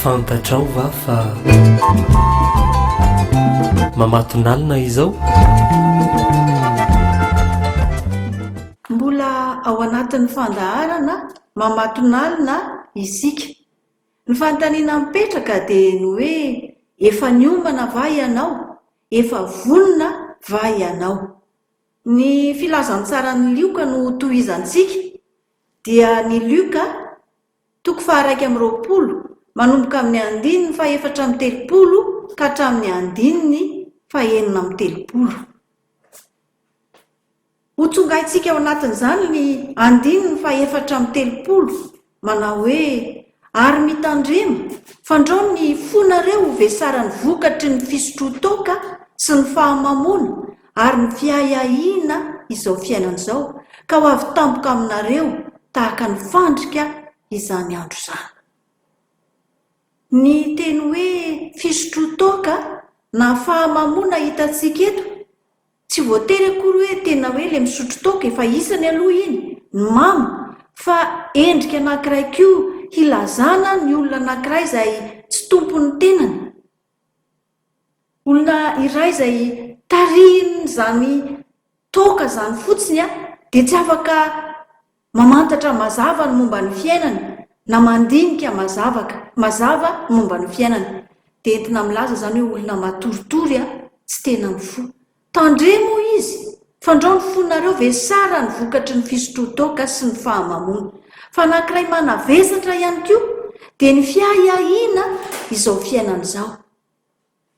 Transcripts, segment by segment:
fantatrao va fa mamatonalina izao mbola ao anatin'ny fandaharana mamatonalina isika ny fanontaniana mipetraka dia ny hoe efa niomana va ianao Efa vonona va ianao? Ny filazantsaran'i Lioka no tohizantsika, dia ny Lioka, toko faha-iraika amby roapolo, manomboka amin'ny andininy fahefatra amby telopolo ka hatramin'ny andininy fahenina amby telopolo. Hotsongaintsika ao anatin'izany ny andininy fahefatra amby telopolo manao hoe, Ary mitandrema, fandrao ny fonareo ho vesaran'ny vokatry ny fisotroan-toaka sy ny fahamamoana ary ny fiahiahiana izao fiainana izao, ka ho avy tampoka aminareo tahaka ny fandrika izany andro izany. Ny teny hoe fisotroan-toaka na fahamamoana hitantsika eto Tsy voatery akory hoe tena hoe le misotro toaka e, fa isany aloha iny, ny mamo, fa endrika anankiray koa hilazana ny olona anankiray izay tsy tompon'ny tenany, olona iray izay tarihin'izany toaka izany fotsiny dia tsy afaka Mamantatra mazava ny momba ny fiainana na mandinika mazavaka mazava ny momba ny fiainana. Dia entina milaza izany hoe olona matoritory aho, tsy tena mifoha. Tandremo hoy izy, fandrao ny fonareo ve sa raha ny vokatry ny fisotroan-toaka sy ny fahamamoana. Fa anankiray manavesatra ihany koa dia ny fiahiahiana izao fiainana izao.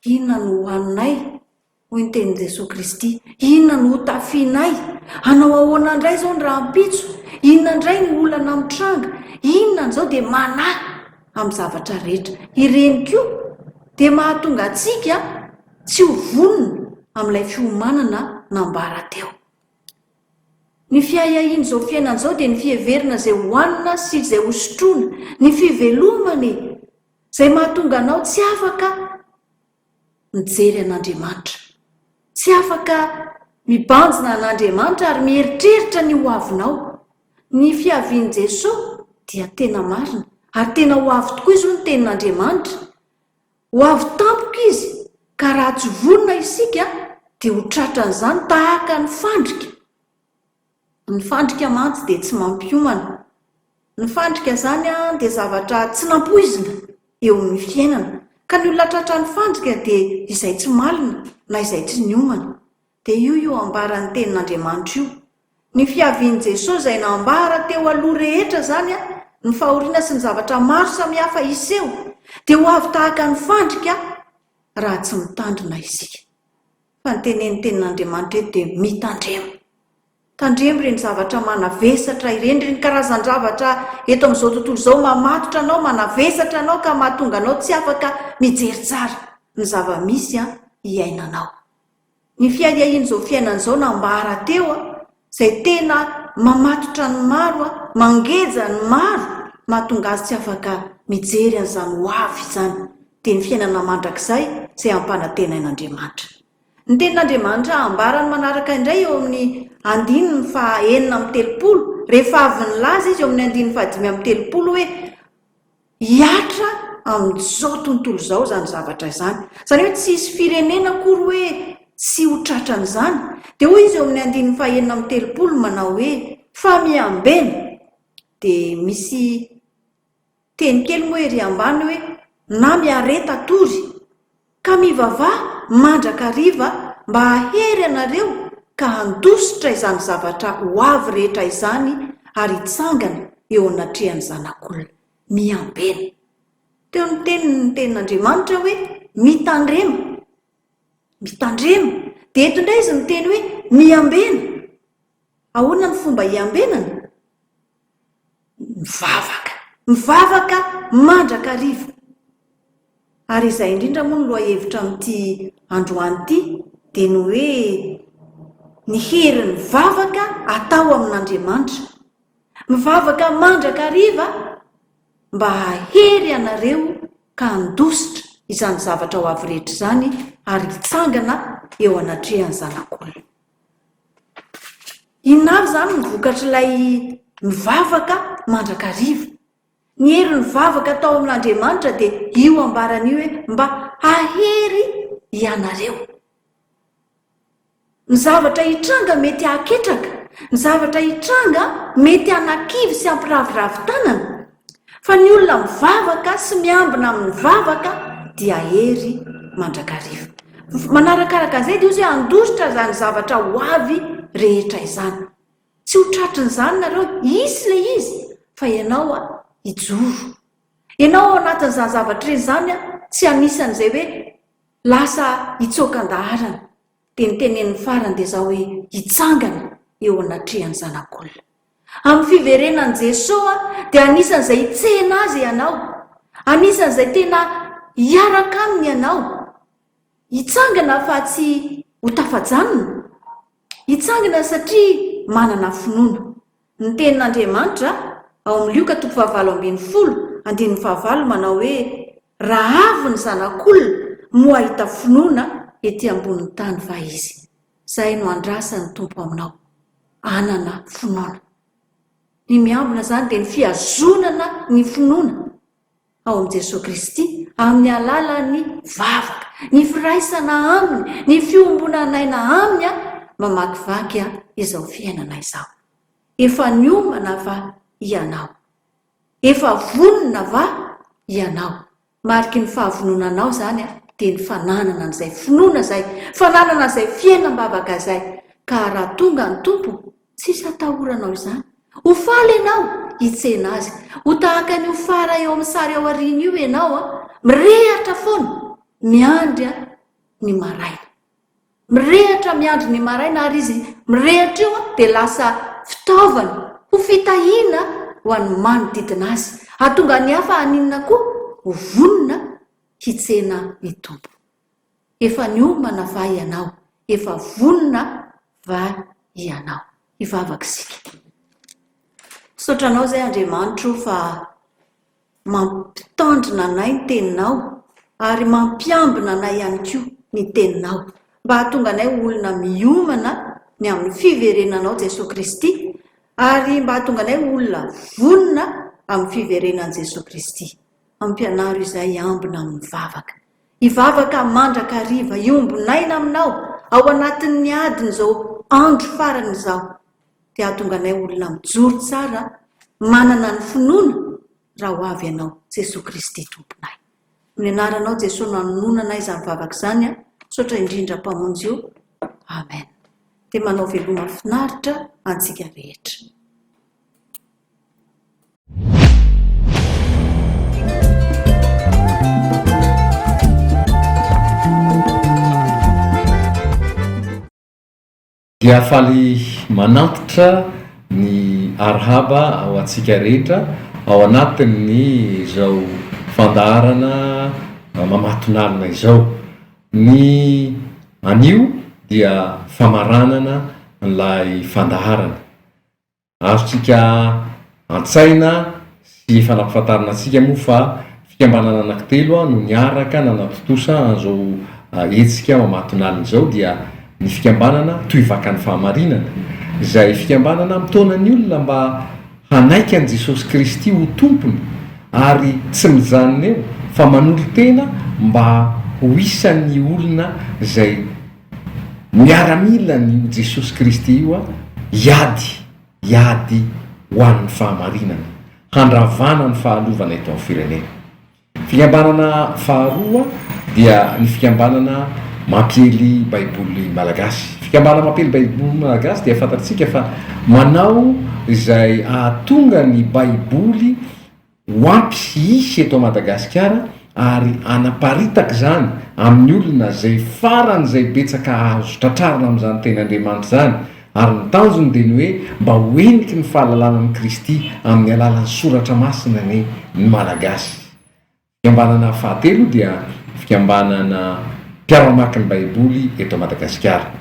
Inona no hohaninay? hoy ny tenin'i Jesoa Kristy. Inona no hotafianay? Hanao ahoana indray izao ny rahampitso? Inona indray no olana mitranga? Inona an'izao dia manahy amin'ny zavatra rehetra. Ireny koa dia mahatonga antsika tsy ho vonona amin'ilay fiomanana nambara teo. Ny fiahiahian'izao fiainana izao dia ny fiheverana izay hohanina sy izay hosotroina. Ny fivelomana e! Izay mahatonga anao tsy afaka mijery an'Andriamanitra. Tsy afaka mibanjina an'Andriamanitra ary mieritreritra ny hoavinao. Ny fiavian'i Jesoa dia tena marina ary tena ho avy tokoa izao ny tenin'Andriamanitra. Ho avy tampoka Izy ka raha tsy vonona isika dia ho tratran'izany tahaka ny fandrika. Ny fandrika mantsy dia tsy mampiomana. Ny fandrika izany dia zavatra tsy nampoizina eo amin'ny fiainana. Ka ny olona tratran'ny fandrika dia izay tsy malina na izay tsy niomana. Dia io io ambaran'ny tenin'Andriamanitra io. Ny fiavian'i Jesoa izay nambara teo aloha rehetra izany, ny fahoriana sy ny zavatra maro samihafa hiseho, dia ho avy tahaka ny fandrika raha tsy mitandrina isika. fa ny tenenin'ny Tenin'Andriamanitra eto dia mitandrema. Tandremo ireny zavatra manavesatra ireny, ireny karazan-javatra eto amin'izao tontolo izao mamatotra anao, manavesatra anao ka mahatonga anao tsy afaka mijery tsara ny zava-misy iainanao. Ny fiahiahian'izao fiainana izao nambara teo. izay tena mamatotra ny maro, mangeja ny maro, mahatonga azy tsy afaka mijery an'izany ho avy izany, dia ny fiainana mandrakizay izay ampanantenain'Andriamanitra. Ny tenin'Andriamanitra ambarany manaraka indray eo amin'ny andininy faha enina amby telopolo, rehefa avy nilaza Izy eo amin'ny andininy faha dimy amby telopolo hoe, Hihatra amin'izao tontolo izao izany zavatra izany. Izany hoe tsy hisy firenena akory hoe tsy ho tratran'izany. Dia hoy izy eo amin'ny andininy fahenina amby telopolo manao hoe, Fa miambena! Dia misy teny kely moa ery ambany hoe, Na miareta tory! Ka mivavaha mandrakariva mba hahery anareo ka handositra izany zavatra ho avy rehetra izany ary hitsangana eo anatrehan'ny Zanak'olona. Miambena. Teo ny teniny ny tenin'Andriamanitra hoe, Mitandrema. Mitandrema. Dia eto indray izy miteny hoe, Miambena. Ahoana ny fomba hiambenana? mivavaka. Mivavaka mandrakariva. Ary izay indrindra moa no lohahevitra amin'ity androany ity dia ny hoe ny herin'ny vavaka atao amin'Andriamanitra. Mivavaka mandrakariva mba hahery ianareo ka handositra izany zavatra ho avy rehetra izany ary hitsangana eo anatrehan'ny Zanak'olona. Inona avy izany no vokatr'ilay nivavaka mandrakariva? Ny hery nivavaka tao amin'Andriamanitra dia io ambarany io hoe mba hahery ianareo. Ny zavatra hitranga mety hahaketraka, ny zavatra hitranga mety hanakivy sy hampiraviravy tanana. Fa ny olona mivavaka sy miambina amin'ny vavaka dia hery mandrakariva. Manarakaraka an'izay dia hozy hoe handositra izany zavatra ho avy rehetra izany. Tsy ho tratrin'izany nareo, hisy ilay izy fa ianao a, hijoro. Ianao ao anatin'izany zavatra ireny izany a, tsy anisan'izay hoe lasa hitsoaka an-daharana. Dia ny teneniny farany dia izao hoe, hitsangana eo anatrehan'ny Zanak'olona. Amin'ny fiverenan'i Jesoa dia anisan'izay hitsena Azy ianao, anisan'izay tena hiaraka Aminy ianao. Hitsangana fa tsy ho tafajanona. Hitsangana satria manana finoana. Ny tenin'Andriamanitra ao amin'ny Lioka toko fahavalo ambin'ny folo, andininy fahavalo manao hoe, Raha avy ny Zanak'olona moa hahita finoana ety ambonin'ny tany va izy? Izay no andrasan'ny Tompo aminao, hanana finoana. Ny miambina izany dia ny fihazonana ny finoana ao amin'i Jesoa Kristy amin'ny alalan'ny vavaka, ny firaisana Aminy, ny fiombonan'aina Aminy mamakivaky izao fiainana izao. Efa niomana va ianao? Efa vonona va ianao? Mariky ny fahavononanao izany dia ny fananana an'izay finoana izay, fananana an'izay fiainam-bavaka izay. Ka raha tonga ny Tompo, tsisy hatahoranao izany. Ho faly ianao hitsena Azy. Ho tahaka ny ho fara eo amin'ny sary ao aoriana io ianao, mirehatra foana, miandry ny maraina. Mirehatra miandry ny maraina ary izy mirehatra io dia lasa fitaovana ho fitahiana ho an'ny manodidina azy. Hahatonga ny hafa haninona koa? Ho vonona hitsena ny Tompo. Efa niomana va ianao? Efa vonona va ianao? Hivavaka isika. Misaotra Anao izay Andriamanitro fa. Mampitandrina anay ny Teninao, ary mampiambina anay ihany koa ny Teninao, mba hahatonga anay ho olona miomana ny amin'ny fiverenanao Jesoa Kristy, ary mba hahatonga anay ho olona vonona amin'ny fiverenan'i Jesoa Kristy. Ampianaro izay hiambina amin'ny vavaka. Hivavaka mandrakariva, hiombon'aina Aminao, ao anatin'ny adin'izao andro farany izao. dia hahatonga anay olona mijoro tsara manana ny finoana raha ho avy Ianao Jesoa Kristy Tomponay. Amin'ny Anaranao Jesoa no anononanay izany vavaka izany an, misaotra indrindra Mpamonjy o, Amen. Dia manao veloma finaritra antsika rehetra. Dia faly manantitra ny arhaba ho antsika rehetra ao anatin'ny izao fandaharana mamatonalina izao. Ny anio dia famaranana ilay fandaharana. Azontsika an-tsaina sy efa nampafantarina antsika moa fa fikambanana anankitelo no niaraka nanatontosa an'izao hetsika mamatonalina izao dia ny fikambanana Tohivakan'ny Fahamarinana izay fikambanana mitaona ny olona mba hanaiky an'i Jesosy Kristy ho Tompony ary tsy mijanona eo fa manolo-tena mba ho isan'ny olona izay Miaramila ny io Jesosy Kristy io an, hiady, hiady ho an'ny fahamarinana, handravana ny fahalovana eto amin'ny firenena. Fikambanana faharoa dia ny fikambanana mampiely baiboly malagasy. Fikambanana mampiely baiboly malagasy dia fantatsika fa manao izay ahatonga ny baiboly ho ampy sy hisy eto Madagasikara ary hanaparitaka izany amin'ny olona izay faran'izay betsaka azo tratrarina amin'izany teny Andriamanitra izany, ary ny tanjony dia ny hoe mba ho heniky ny fahalalana an'i Kristy amin'ny alalan'ny soratra masina anie ny Malagasy. Fikambanana fahatelo dia fikambanana mpiara-mamaky ny Baiboly eto Madagasikara.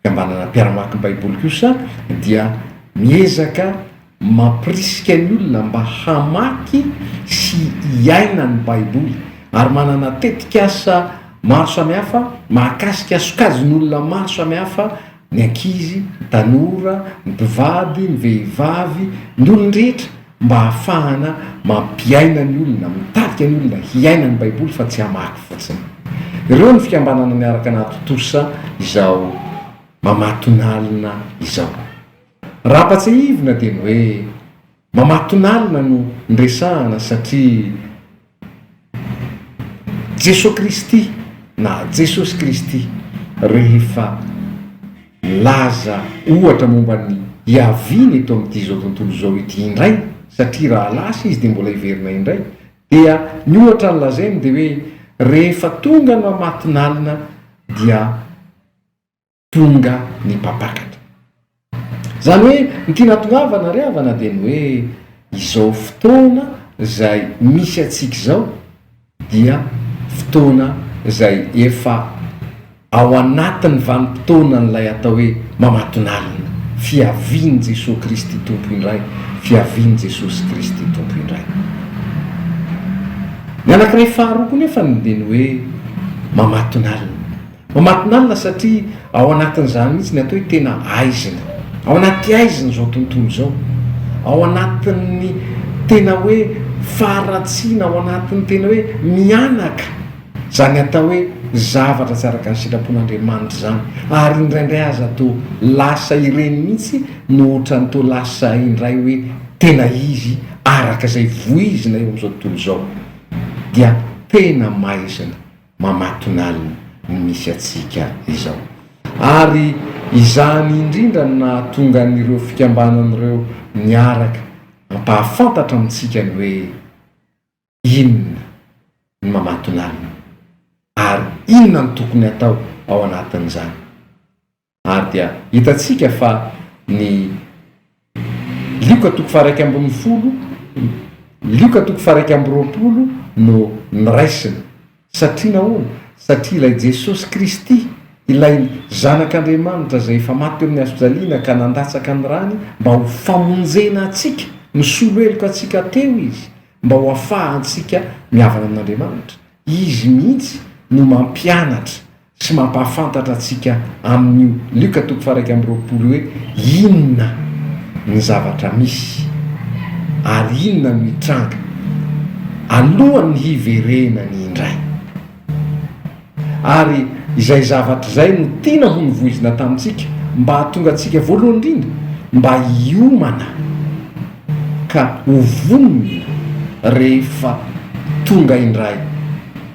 Fikambanana mpiara-mamaky ny Baiboly kosa dia miezaka. Mampirisika ny olona mba hamaky sy hiaina ny Baiboly, ary manana tetikasa maro samihafa mahakasika sokajin'olona maro samihafa, ny ankizy, ny tanora, ny mpivady, ny vehivavy, ny olon-drehetra, mba hahafahana mampiaina ny olona, mitavika ny olona hiaina ny Baiboly fa tsy hamaky fotsiny. Ireo ny fikambanana miaraka anaty Tosa izao mamatonalina izao. Raha ampatsiahivina dia ny hoe mamatonalina no niresahana satria Jesoa Kristy na Jesosy Kristy rehefa milaza ohatra momba ny hiaviany eto amin'ity izao tontolo izao ity indray satria raha lasa izy dia mbola hiverina indray dia ny ohatra nolazainy dia hoe rehefa tonga ny mamatonalina dia Tonga ny mpampakatra. Izany hoe ity nahatongavana ary havana dia ny hoe izao fotoana izay misy antsika izao dia fotoana izay efa ao anatin'ny vanim-potoanan'ilay atao hoe mamatonalina, fiavian'i Jesoa Kristy Tompo indray, fiavian'i Jesosy Kristy Tompo indray. Ny anankiray faharoa koa nefany dia ny hoe mamatonalina. Mamatinalina satria ao anatin'izany mihitsy ny atao hoe tena aizina. Ao anaty aizina izao tontolo izao. Ao anatin'ny tena hoe faharatsiana, ao anatin'ny tena hoe mihanaka izany atao hoe zavatra tsy araka ny sitrapon'Andriamanitra izany. Ary indraindray aza toa lasa ireny mihitsy no ohatran'ny toa lasa indray hoe tena izy araka izay voizina eo amin'izao tontolo izao. Dia tena maizina. mamatonalina ny misy antsika izao. Ary izany indrindra no nahatonga an'ireo fikambanana ireo niaraka hampahafantatra amintsika ny hoe inona ny mamatonalina ary inona no tokony hatao ao anatin'izany. Ary dia hitantsika fa ny Lioka toko faha iraika ambin'ny folo, Lioka toko faha iraika amby roapolo no noraisina. Satria nahoana? Satria ilay Jesosy Kristy, ilay Zanak'Andriamanitra izay efa maty teo amin'ny hazofijaliana ka nandatsaka ny rany mba ho famonjena antsika, nisolo heloka antsika teo Izy mba ho afahantsika mihavana amin'Andriamanitra. Izy mihitsy no mampianatra Tsy mampahafantatra antsika amin'io Lioka toko faha-iraika amby roapolo hoe inona ny zavatra misy ary inona no hitranga alohan'ny hiverena ny indray. Ary izay zavatra izay no tiana ho novoizina tamintsika mba hahatonga antsika voalohany indrindra mba hiomana ka ho vonona rehefa tonga indray.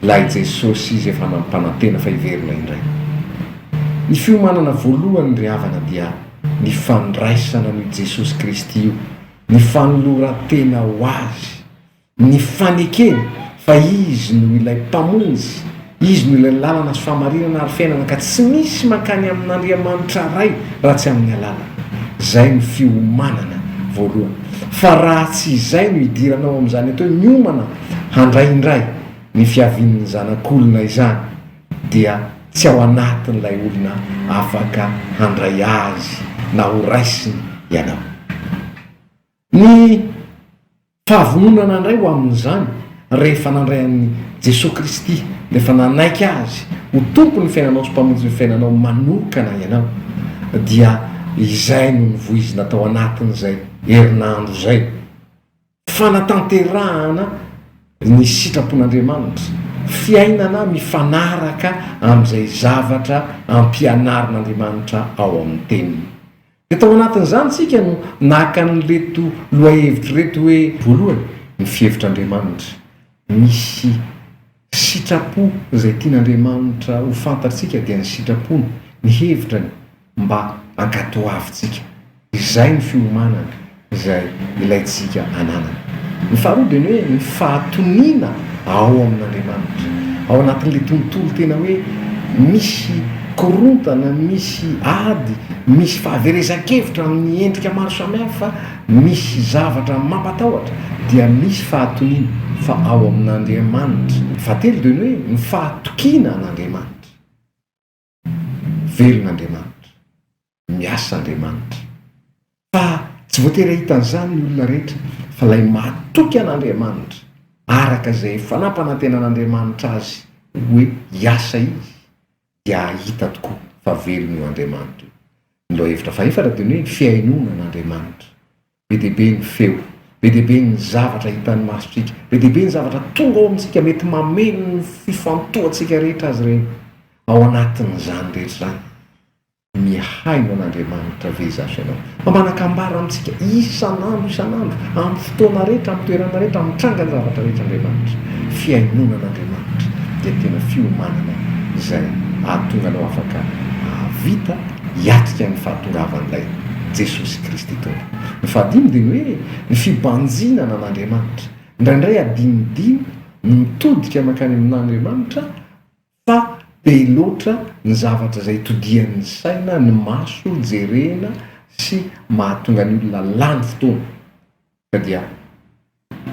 Ilay Jesosy Izy efa nampanantena fa hiverina indray. Ny fiomanana voalohany ry havana dia ny fandraisana an'io Jesosy Kristy io, ny fanoloran-tena ho Azy, ny fanekena fa Izy no ilay Mpamonjy, Izy no ilay lalana sy fahamarinana ary fiainana ka tsy misy mankany amin'Andriamanitra Ray raha tsy amin'ny alalany. Izay no fiomanana voalohany. Fa raha tsy izay no idiranao amin'izany atao hoe miomana handray indray ny fiavian'ny Zanak'olona izany, dia tsy ao anatin'ilay olona afaka handray Azy na horaisiny ianao. Ny fahavononana handray ho amin'izany, rehefa nandray an'i Jesoa Kristy, rehefa nanaiky Azy ho Tompon'ny fiainanao sy Mpamonjin'ny fiainanao manokana ianao, dia izay no nivoizina tao anatin'izay herinandro izay. Fanatanterahana ny sitrapon'Andriamanitra, fiainana mifanaraka amin'izay zavatra ampianarin'Andriamanitra ao amin'ny Teniny. Dia tao anatin'izany isika no naka an'ireto lohahevitra ireto hoe. Voalohany, ny fihevitr'Andriamanitra. Misy Sitrapo izay tian'Andriamanitra ho fantatsika dia ny sitrapony, ny hevitrany mba hankatoavintsika. Izay ny fiomanana izay ilaintsika hananana. Ny faharoa dia ny hoe ny fahatoniana ao amin'Andriamanitra. Ao anatin'ilay tontolo tena hoe misy korontana, misy ady, misy fahaverezan-kevitra amin'ny endrika maro samihafa, Misy zavatra mampatahotra dia misy fahatoniana fa ao amin'Andriamanitra. Fahatelo dia ny hoe ny fahatokiana an'Andriamanitra. Velona Andriamanitra. Miasa Andriamanitra. Fa tsy voatery hahita an'izany ny olona rehetra. Fa ilay mahatoky an'Andriamanitra, araka izay fanampanantenan'Andriamanitra azy hoe hiasa izy, dia hahita tokoa fa velona io Andriamanitra io. Ny lohahevitra fahefatra dia ny hoe fihainoana an'Andriamanitra. Be dia be ny feo, be dia be ny zavatra hitan'ny masontsika, be dia be ny zavatra tonga ao amintsika mety mameno ny fifantohantsika rehetra azy ireny. Ao anatin'izany rehetra izany. Mihaino an'Andriamanitra ve izaho sy ianao? Fa manakambara amintsika isan'andro isan'andro, amin'ny fotoana rehetra, amin'ny toerana rehetra, amin'ny trangan'ny zavatra rehetra Andriamanitra. Fihainoana an'Andriamanitra dia tena fiomanana izay hahatonga anao afaka hahavita hiatrika ny fahatongavan'ilay Jesosy Kristy Tompo. Ny fahadimy dia ny hoe ny fibanjinana an'Andriamanitra. Indraindray adinodino ny mitodika mankany amin'Andriamanitra, Fa be loatra ny zavatra izay todian'ny saina, ny maso, jerena sy mahatonga ny olona lany fotoana. Ka dia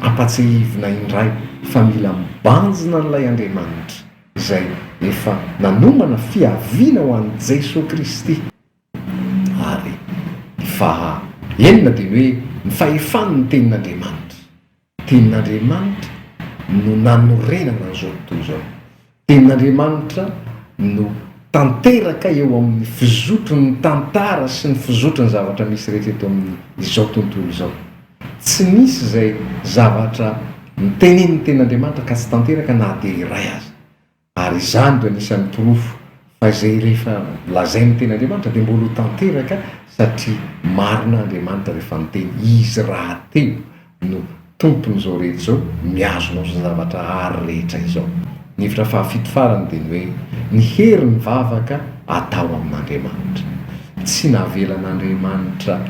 ampatsahivina indray fa mila mibanjina an'ilay Andriamanitra izay efa nanomana fiaviana ho an'i Jesoa Kristy Ary ny faha enina dia ny hoe ny fahefan' ny tenin' Andriamanitra. Tenin' Andriamanitra no nanorenana an'izao tontolo izao. Tenin' Andriamanitra no tanteraka eo amin' ny fizotron' ny tantara sy ny fizotron' ny zavatra misy rehetra eto amin' izao tontolo izao. Tsy misy izay zavatra notenenin' ny tenin' Andriamanitra ka tsy tanteraka na dia iray aza. Ary izany dia anisan'ny porofo fa izay rehefa lazain'ny tenin'Andriamanitra dia mbola ho tanteraka satria marina Andriamanitra rehefa niteny izy rahateo no tompon'izao rehetra izao mihazona izao zavatra ary rehetra izao. Ny hevitra fahafito farany dia ny hoe ny hery ny vavaka atao amin'Andriamanitra. Tsy navelan'Andriamanitra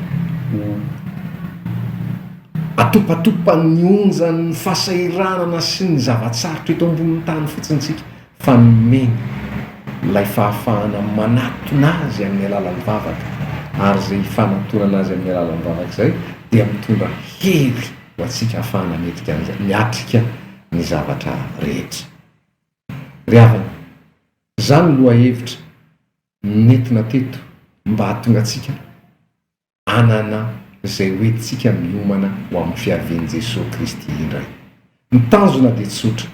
ho. Atopatopan'ny onjan'ny fahasahiranana sy ny zava-tsarotra eto ambonin'ny tany fotsiny isika, fa nomeny ilay fahafahana manatona azy amin'ny alalan'ny vavaka, ary izay ifanatonana azy amin'ny alalan'ny vavaka izay dia mitondra hery ho antsika hahafahana miatrika an'izay, miatrika ny zavatra rehetra. Ry havana, izany lohahevitra nentina teto mba hahatonga antsika anana izay ho entintsika miomana ho amin'ny fiavian'i Jesoa Kristy indray. Ny tanjona dia tsotra,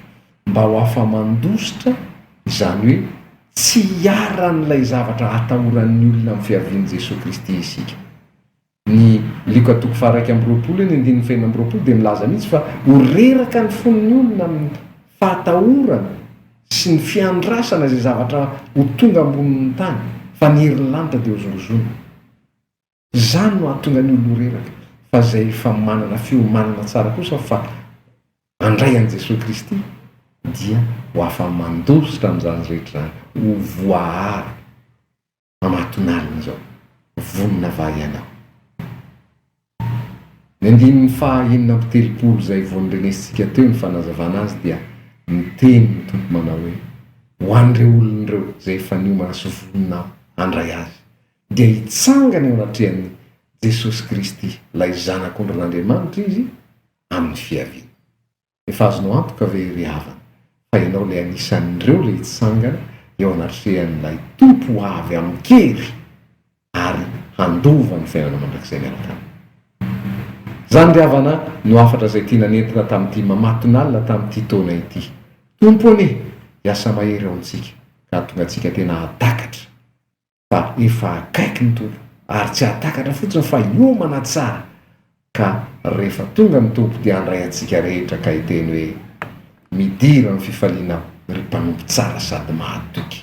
mba ho afa-mandositra, izany hoe tsy hiharan'ilay zavatra hatahoran'ny olona amin'ny fiavian'i Jesoa Kristy isika. Ny Lioka toko faha-iraika amby roapolo eny andininy fahenina amby roapolo dia milaza mihitsy fa ho reraka ny fon'ny olona amin'ny fahatahorana sy ny fiandrasana izay zavatra ho tonga ambonin'ny tany, fa ny herin'ny lanitra dia hozongozona. Izany no hahatonga ny olona ho reraka, fa izay efa manana fiomanana tsara kosa fa handray an'i Jesoa Kristy dia ho afa-mandositra amin'izany rehetra izany, ho voaaro am'aton'alina izao, vonona va ianao? Ny andininy faha enina amby telopolo izay vao norenesintsika teo ny fanazavana azy dia niteny ny Tompo manao hoe, Ho an'ireo olona ireo izay efa niomana sy vonona handray Azy, dia hitsangana eo anatrehan'i Jesosy Kristy, ilay Zanak'ondrin'Andriamanitra izy amin'ny fiaviany. Efa azonao antoka ve ry havana fa ianao ilay anisan'ireo ilay hitsangana eo anatrehan'ilay Tompo ho avy amin-kery ary handova ny fiainana mandrakizay miaraka aminy? Izany ry havana no hafatra izay tiana nentina tamin'ity mamatonalina tamin'ity taona ity. Tompo anie hiasa mahery ao amintsika ka hahatonga antsika tena hahatakatra. fa efa akaiky ny Tompo ary tsy hahatakatra fotsiny fa hiomana tsara ka rehefa tonga ny Tompo dia handray antsika rehetra ka hiteny hoe, Midira amin'ny fifaliana aho, ry mpanompo tsara sady mahatoky.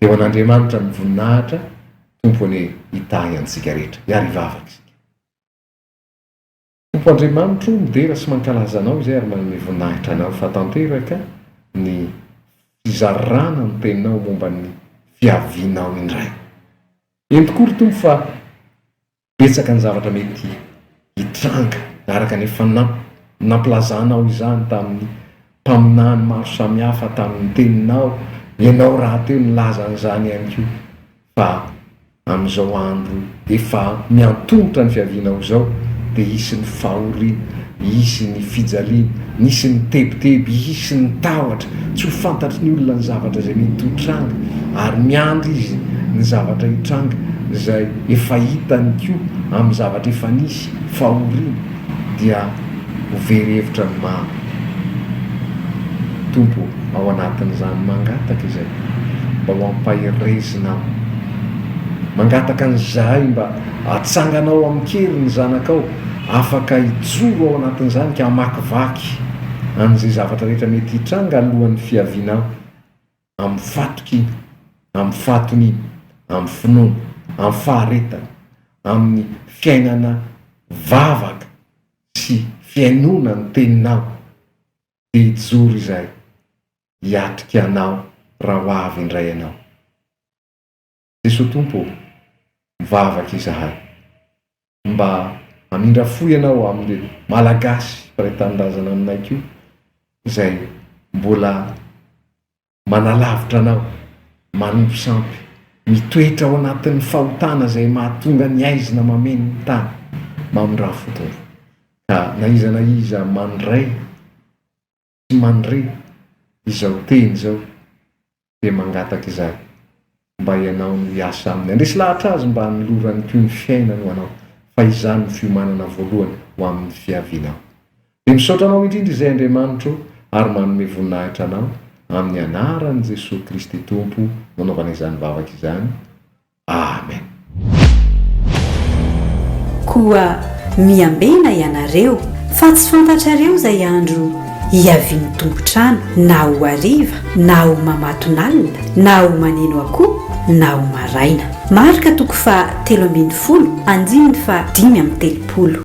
Eo an'Andriamanitra amin'ny voninahitra, Tompo anie hitahy antsika rehetra. Hiarivava isika. Tompo Andriamanitro o, midera sy mankalaza Anao izay ary manome voninahitra Anao fa tanteraka ny fizarana ny Teninao momba ny fiavianao indray. Eny tokoa ry Tompo fa betsaka ny zavatra mety hitranga araka ny efa nampilazanao izany tamin'ny mpaminany maro samihafa tamin'ny Teninao, Ianao rahateo nilaza an'izany ihany koa. Fa amin'izao andro efa miantomotra ny fiaviana ho izao dia hisy ny fahoriana, hisy ny fijaliana, nisy ny tebiteby, hisy ny tahotra, tsy ho fantatry ny olona ny zavatra izay mety ho tranga, ary miandry izy ny zavatra hitranga izay efa hitany koa amin'ny zavatra efa nisy, fahoriana. dia ho very hevitra ny maro. Tompo ô, ao anatin'izany mangataka izay mba ho ampaherezina aho. Mangataka an'izahay mba hatsangana ao amin-kery ny zanakao afaka hijoro ao anatin'izany ka hamakivaky an'izay zavatra rehetra mety hitranga alohan'ny fiavianao. amin'ny fatrik'iny, amin'ny faton'iny, amin'ny finoana, amin'ny faharetana, amin'ny fiainana vavaka sy fihainoana ny teninao, dia hijoro izay hiatrika anao raha ho avy indray ianao. Jesoa Tompo ô! Mivavaka izahay mba hamindra fo Ianao amin'ireo Malagasy mpiray tanindrazana aminay koa izay mbola manalavitra Anao, manompo sampy, mitoetra ao anatin'ny fahotana izay mahatonga ny aizina mameno ny tany. Mamindrafo Tompo ka na iza na iza mandray Tsy mandre izao teny izao dia mangataka izany mba ianao no hiasa aminy. Handresy lahatra azy mba hanolorany koa ny fiainany ho anao fa izany no fiomanana voalohany ho amin'ny fiavianao. Dia misaotra anao indrindra izay Andriamanitro ary manome voninahitra anao amin'ny anaran'i Jesoa Kristy Tompo nanaovana izany vavaka izany. Amen. Koa miambena ianareo, fa tsy fantatrareo izay andro hiavian'ny tompon-trano, na ho hariva, na ho mamatonalina, na ho maneno akoho, na ho maraina. Marka toko faha telo ambin'ny folo, andininy faha dimy amby telopolo.